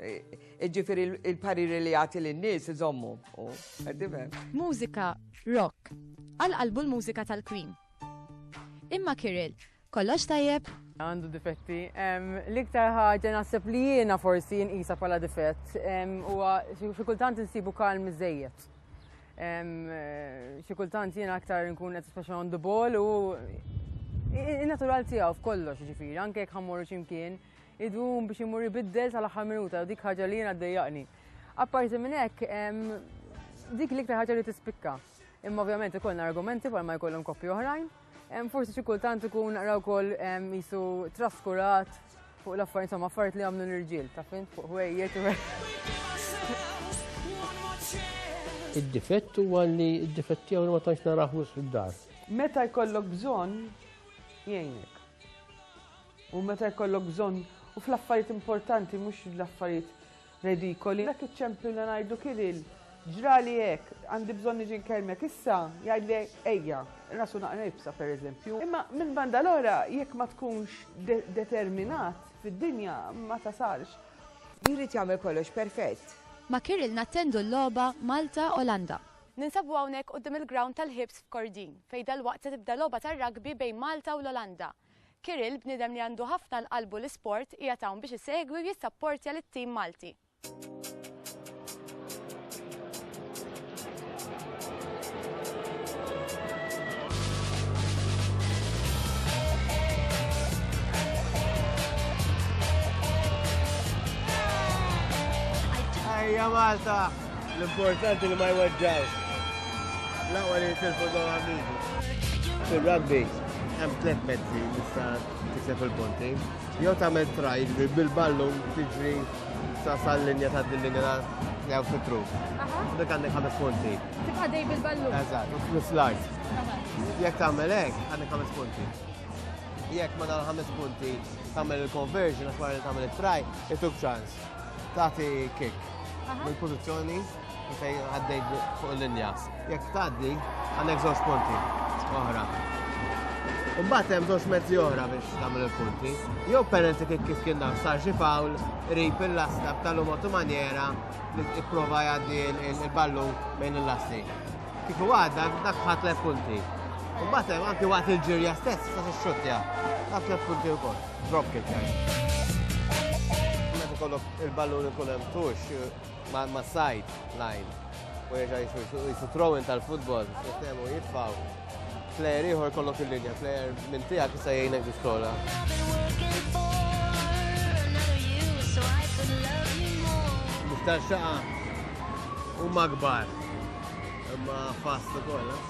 Ġifiri il-pariri li jagħti lin-nies iżommu. Mużika rock. Għal qalbu l-mużika tal-Queen. Imma Kirill, kollox tajjeb? Għandu difetti. L-iktar ħaġa naħseb li jiena forsi jinqisa bħala difett huwa xi kultant insibu kalm iżejjed. Xi kultant jiena aktar nkun qed speċa on the ball u in-natural tiegħu f'kollox ġifieri, anke jekk ħammur x'imkien. Idum biex imur ibiddel tal-aħħar minuta, dik ħaġa li jiena ddejjaqni. Apparti minn hekk, dik l-iktar ħaġa li tispikka. Imma ovvjament ikollna argumenti bħal ma jkollhom koppi oħrajn. Forsi xi kultant ikun naqra wkoll jisu traskurat fuq l-affarijiet insomma affarijiet li għamlu l-irġiel, ta' fin fuq ħwejjeġ u Id-difett huwa li id-difett tiegħu ma tantx naraħ wisq id-dar. Meta jkollok bżonn jgħinek. U meta jkollok bżonn u fl-affarijiet importanti mhux l-affarijiet redikoli. Dak iċ-ċempju li ngħidu Kiril, ġrali hekk, għandi bżonn niġi nkellmek issa, jgħidli ejja, rasu naqra ibsa pereżempju. Imma minn banda l-oħra jekk ma tkunx determinat fid-dinja ma tasalx. Jrid jagħmel kollox perfett. Ma' Kiril nattendu l-logħba Malta, Olanda. Ninsabu hawnhekk quddiem il-ground tal-Hibs f'Kordin, fejn dalwaqt se tibda logħba tar-rugby bejn Malta u l-Olanda. Kirill, bniedem li għandu ħafna l-qalbu l-isport, qiegħed hawn biex isegwi u jissapportja lit-tim Malti. Ejja Malta! L-importanti li ma jweġġgħux. L-aqwa li jitilfu dawn l-amigu. Fir-rugby hemm tliet mezzi li tista' tikseb il-punti. Jew tagħmel try, jiġri bil-ballun tiġri sa sal-linja ta' din linja jew fitru. Dik għandek ħames punti. Tibqa' dej bil-ballun. Eżatt, u flus l-art. Jekk tagħmel hekk, għandek ħames punti. Jekk ma nagħmel ħames punti tagħmel il-conversion għax wara li tagħmel it-try, ituk ċans. Tagħti kick. Il-pożizzjoni fej għaddej fuq l-linja. Jekk tgħaddi għandek żewġ punti oħra. U mbagħad hemm żewġ mezzi oħra biex tagħmel il-punti. Jew penalty kif kif kien dan sar xi fawl rip il-lasta b'talum otu manjera li tipprova jgħaddi il-ballu bejn il-lasti. Kif huwa dak dak ħadd punti. U mbagħad hemm anki waqt il-ġirja stess sa xxuttja. Dak punti wkoll. Drop kick. Meta kollok Il-ballun ikun hemm tux ma' side line u jieġa jisu throwing tal-futbol, jittemu jitfaw. Player ieħor kollok il-linja, player minn tiegħek jista' jgħinek biex tola. Miftar xaqa u magbar. Imma fast ukoll. Eh?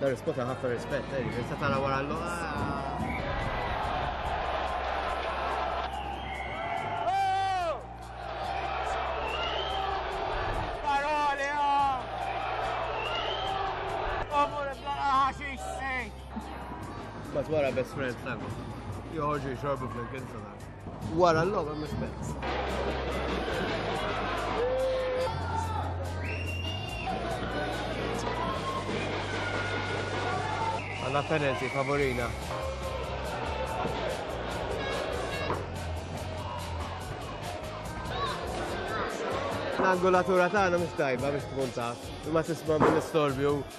Dar ispota ħafna rispett, eh, jiġifieri se tara wara l-logħba. Paroli, oh! Omur iblaqa ħaxix sejt! Bat wara best friend tango. Joħorġu jxorbu fl-imkien Wara l-logħba mhux penalty. Għanna penalty favorina. L-angolatura tagħna mhux tajba biex tkun taf, imma tisma' mill-istorbju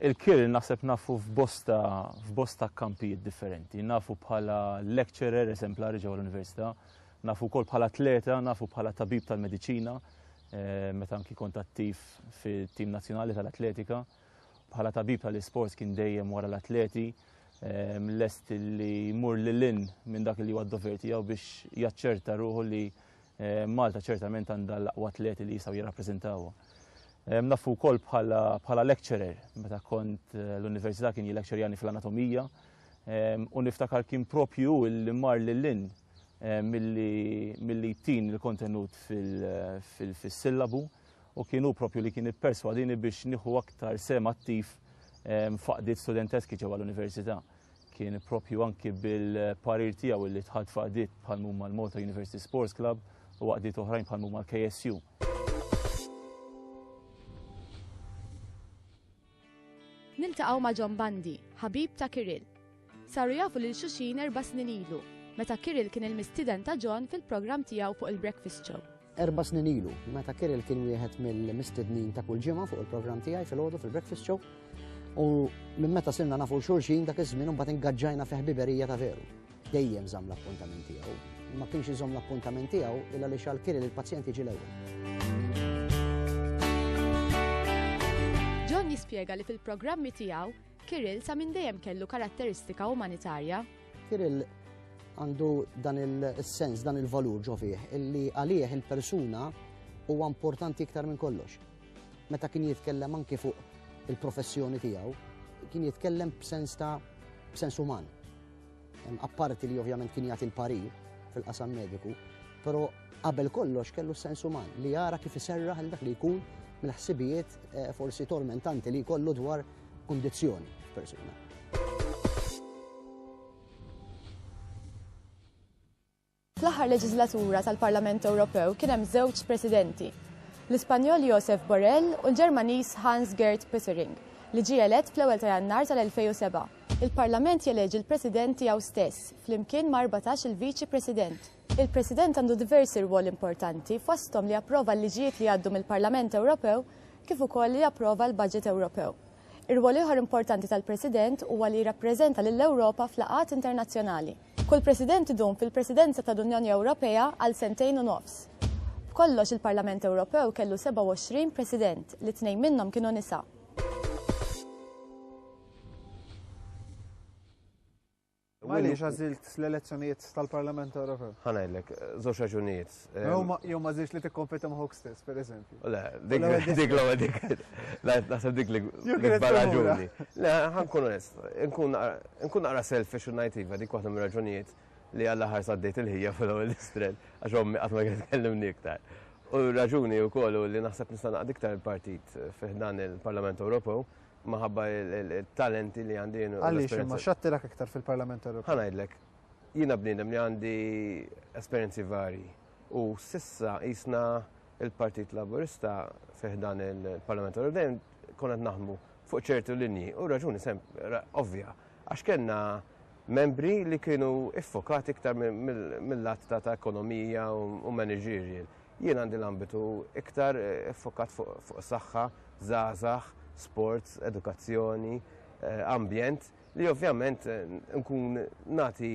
Il-Kirr naħseb nafu f'bosta f'bosta kampijiet differenti. Nafu bħala lecturer eżemplari ġewwa l-Università, nafu wkoll bħala atleta, nafu bħala tabib tal-mediċina, eh, meta anki kont attiv fit-tim nazzjonali tal-atletika. Bħala tabib tal-isports kien dejjem wara l-atleti, eh, lest li jmur lil in minn dak li huwa d-dover tiegħu biex jaċċerta ruħu li Eh, Malta ċertament għandha l-aqwa atleti li jistgħu jirrappreżentawha. Eh, nafu wkoll bħala lecturer, meta kont eh, l-università kien jilecturjani fl-anatomija, u niftakar kien propju li mar lil-lin mill-li tin il-kontenut fil-sillabu u kienu propju li kien ipperswadini biex nieħu aktar sem attiv faqdiet studenteski ġewwa l-università. kien propju anki bil-parir tiegħu li tħad faqdiet bħal mumma l-Malta University Sports Club u għaqdiet oħrajn bħal mumma l-KSU. Niltaqgħu ma' John Bandi, ħabib ta' Kiril. Saru jafu lil xuxin erba' snin ilu, meta Kiril kien il-mistiden ta' John fil-programm tiegħu fuq il-Breakfast Show. Erba' snin ilu, meta Kirill kien wieħed mill-mistednin ta' kull ġimgħa fuq il-programm tiegħi fil-għodu fil-breakfast show, u minn meta sirna nafu xulxin dak iż-żmien imbagħad ingaġġajna fi ħbiberija ta' veru. Dejjem żamm l-appuntament tiegħu. Ma kienx iżomm l-appuntament tiegħu illa li xal Kirill il-pazjent jiġi l-ewwel. John jispjega li fil-programmi tiegħu Kirill sa minn dejjem kellu karatteristika umanitarja. Kirill għandu dan il-sens, dan il-valur ġo fih, illi għalih il-persuna huwa importanti iktar minn kollox. Meta kien jitkellem anki fuq il-professjoni tiegħu, kien jitkellem b'sens ta' b'sens uman. Apparti li ovvjament kien jagħti l-parir fil-qasam mediku, però qabel kollox kellu sens uman li jara kif iserraħ il dak li jkun mill-ħsibijiet eh, forsi tormentanti li jkollu dwar kundizzjoni f'persuna. Fl-aħħar leġislatura tal-Parlament Ewropew kien hemm żewġ presidenti, l-Ispanjol Josef Borrell u l-Ġermaniż Hans Gert Pöttering, li ġie elett fl-ewwel ta' Jannar tal-2007. Il-Parlament jeleġi l-President tiegħu stess, flimkien ma' 14 il-Viċi President. Il-President għandu diversi rwoli importanti, fosthom li japprova l-liġijiet li jgħaddu mill-Parlament Ewropew kif ukoll li japprova l-baġit Ewropew. Ir-rwol ieħor importanti tal-President huwa li jirrappreżenta lill-Ewropa f'laqgħat internazzjonali. Kull President idum fil-Presidenza tal-Unjoni Ewropea għal sentejn u nofs. B'kollox il-Parlament Ewropew kellu 27 President, li tnejn minnhom kienu nisa. Għaliex għażilt l-elezzjonijiet tal-Parlament Ewropew? Ħanajlek, żewġ raġunijiet. Jew ma żilx li tikkompeta ma' Hawk stess, pereżempju. Le, dik l-ewwel dik. Naħseb dik l-ikbar raġuni. Le, ħankun onest, nkun naqra selfish u ngħid iva dik waħda mir-raġunijiet li għalla ħar saddejt il-ħija fil-ewwel istret għax ommi qatt ma kienet kellimni iktar. U raġuni wkoll li naħseb nista' naqdiktar il-partit fih dan il-Parlament Ewropew maħabba il-talenti li għandi. Għaliex, ma xattirak iktar fil-Parlament Ewropew? Ħanajdlek, jina bnidem li għandi esperienzi vari. U sissa jisna il-Partit Laburista fiħdan il-Parlament Ewropew konet naħmu fuq ċertu linji u raġuni sem ovvja għax kellna membri li kienu iffokati iktar mill-lat ta' ekonomija u managerial. Jien għandi l-ambitu iktar iffokat fuq saħħa, żgħażagħ, sports, edukazzjoni, ambjent, li ovvjament nkun nagħti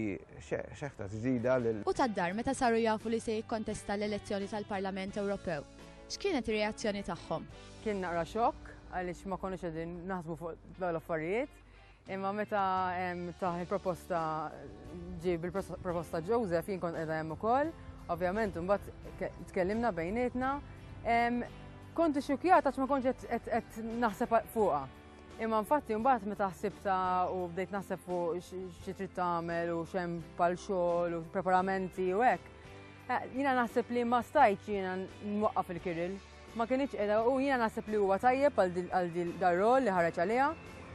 xeħta ġdida lil. U tad-dar meta saru jafu li se jikkontesta l-elezzjoni tal-Parlament Ewropew. X'kienet ir-reazzjoni tagħhom? Kien naqra xokk għaliex ma konniex qegħdin naħsbu fuq dawn l-affarijiet. Imma meta taħ il-proposta ġib il-proposta Joseph jien kont qiegħda hemm ukoll, ovvjament imbagħad tkellimna bejnietna. Konti xukjata ma kontx qed naħseb fuqha. Imma infatti mbagħad meta ħsibta u bdejt naħseb fuq xi trid tagħmel u xem pal xogħol u preparamenti u hekk. Eh, jiena naħseb li ma stajt jiena nwaqqaf il-kiril. Ma kinitx qiegħda u jiena naħseb li huwa tajjeb għal dar-rol li ħareġ għaliha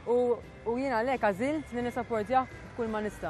u jiena għalhekk għażilt li nissappordjah b'kull ma nista'.